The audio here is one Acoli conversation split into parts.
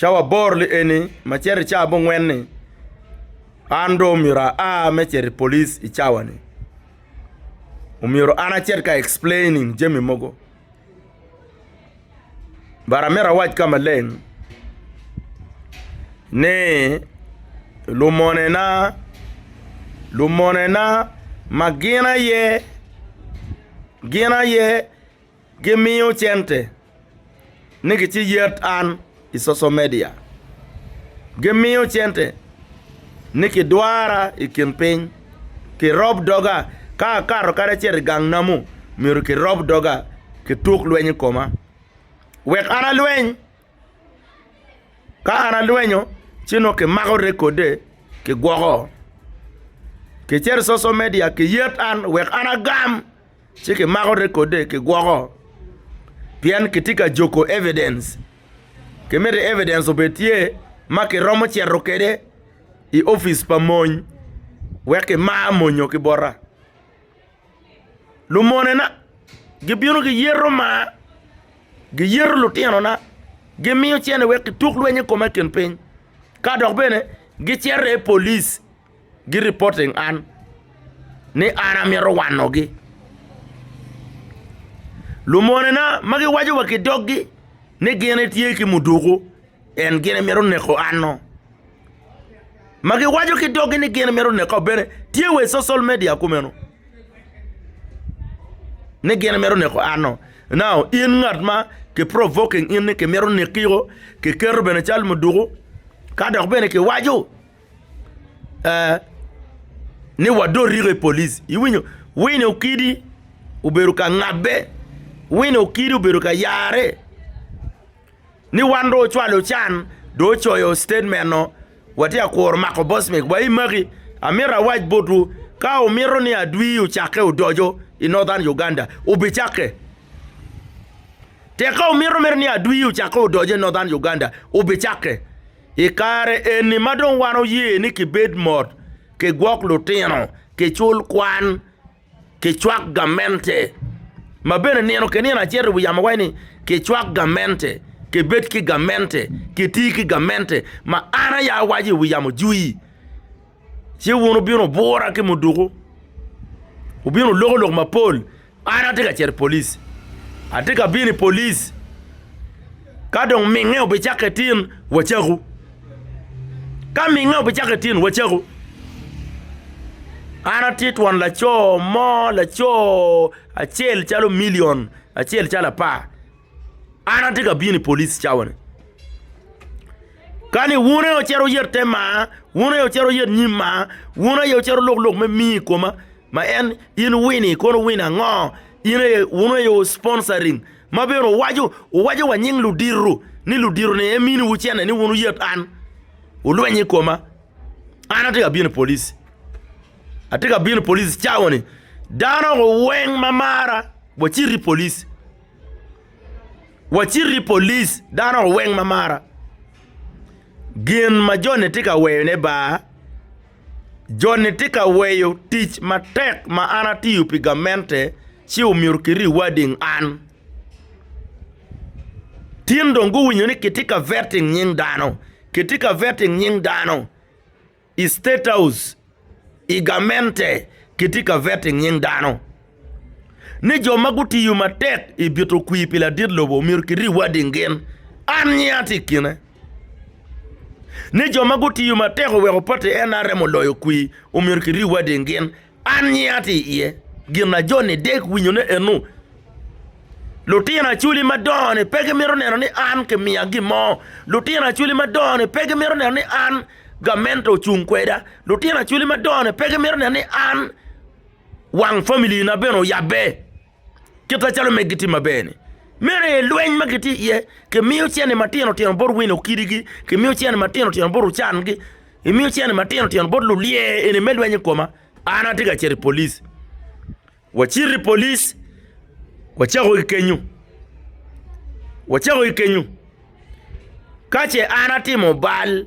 Cawa aboro-ni eni ma cito i cawa mungwen-ni, an dong omyero aa me cito i police i cawa-ni. Omyero an acit ka explaining jami mogo. But amito awac ka maleng ni lumonena, lumonena ma gin aye, gin aye. Gimiyo cente ni gi ci yet an i social media. Gimiyo cente ni ki dwara i kin piny. Ki rob doga ka akato kadi acito i gang namu myero ki rob doga ki tuk lweny i koma wek an alweny. Ka an alwenyo ci nongo ki mako rekode ki gwoko. Ki cito i social media ki yet an wek an agam. ci kimako rekode kigwoko pien kitye ka juko evidence kimito evidence obed tye ma kiromo cito kwede i opic pa mony wek kimar monyo ki bota lumonena gibino giyeto mar giyeto lutinona gimiyo cene wek kituk lweny i kome i kin piny ka dok bene gicito i polic. gi reporting an ni an amito wanogi. Lumonena ma giwaco wa ki doggi ni gin etye ki muduku en gin emito neko ano? Ma giwaco ki doggi ni gin emito neko bene tye wa i social media kumeno ni gin emito neko ano? Now in ngat ma ki provoking in ni kimito neki-o, kiketo bene cal muduku ka dok bene kiwaco ee ni wadot riko i polic iwinyo wine okidi obedo ka ngabbe wine okidi obedo ka yare ni wan dong ocwalo can dong ocoyo statement oo watye ka kuro mako boss man wa imaki amito awac botwu ka wumito ni adwi ocake odoco i northern Uganda obicakke tek ka wumito mere ni adwi ocake odoco i northern Uganda obicakke. I kare eni ma dong wan oye ni kibed mot, kigwok lutino, kicul kwan, kicwak gamente, ma bene nino ki nino acito i wi yamo waco ni, Kicwak gamente, kibed ki gamente, kiti ki gamente, ma an aye awaco i wi yamo jwi, ci wun wubino wubura ki muduku, wubino wulokolok mapol. An atye ka cito i police. Atye ka bino i police. Ka dong minge obicakke tin, wacakku. Ka minge obicakke tin, wacakku. An atye twon laco mo, laco acel calo milion, acel calo apar. An atye ka bino i police cawa ni. Kani wun aye wucito wuyet te maa, wun aye wucito wuyet nyim maa, wun aye wucito lok lok me mii i koma ma en in wini kono wini ango? In aye wun aye wu sponsoring ma bene wuwaco wuwaco wa nying ludito ni ludito ni e miniwu cente ni wun wuyet an wulweny i koma. An atye ka bino i police, atye ka bino i police cawa ni. Dano weng ma mara wacit i police. Waciti i police dano weng ma mara gin ma joni tye ka weyone bar joni tye ka weyo tic matek ma an atiyo pi gamente ci omyero ki rewading an tin dong guwinyo ni kitye ka veting nying dano kitye ka veting nying dano. I State House i gamente kitye ka vete nying dano ni jo ma gutiyo matek i bito kwir pi ladit lobo myero ki rewarding gin. An nyinga tye i kine ni jo ma gutiyo matek oweko party NRM oloyo kwir omyero ki rewarding gin. An nyi ato i iye. Gin ma joni dek winyone enu, Lutino Acholi madongo-ni pe gimito neno ni an kimiya gin mo. Lutino Acholi madongo-ni pe gimito neno ni an gamente ocung kweda. Lutino Acholi madongo-ni pe gimito neno ni an wang familina bene oyabbe. Kit macalo omege gitye maber-ni, meno aye lweny ma gitye iye. Kimiyo cente matino tino bot wino kidigi, kimiyo cente matino tino bot ocangi, imiyo cente matino tino bot lulye eni me lweny i koma. An atye ka cito i police. Wacito i police, wacako ki kenyu, wacako ki kenyu. Ka ce an atimo bal,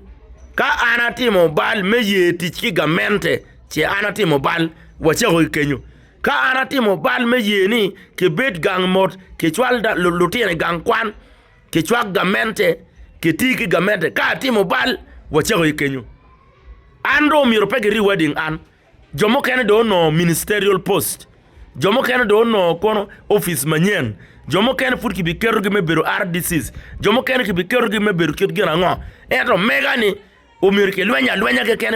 ka an atimo bal me ye tic ki gamente, ce an atimo bal, wacako ki kenyu. Ka an atimo bal me ye ni kibed gang mot, kicwal lutino i gang kwan, kicwak gamente, kiti ki gamente, ka atimo bal, wacako aye kenyo. An dong omyero pe giriwa i ding an. Jo mukene dong onongo ministerial post, jo mukene dong onongo kono opic manyen, jo mukene pud kibiketogi me bedo RDCs, jo mukene kibiketogi me bedo kit gin ango. Ento mega ni omyero kilweny alwenya keken.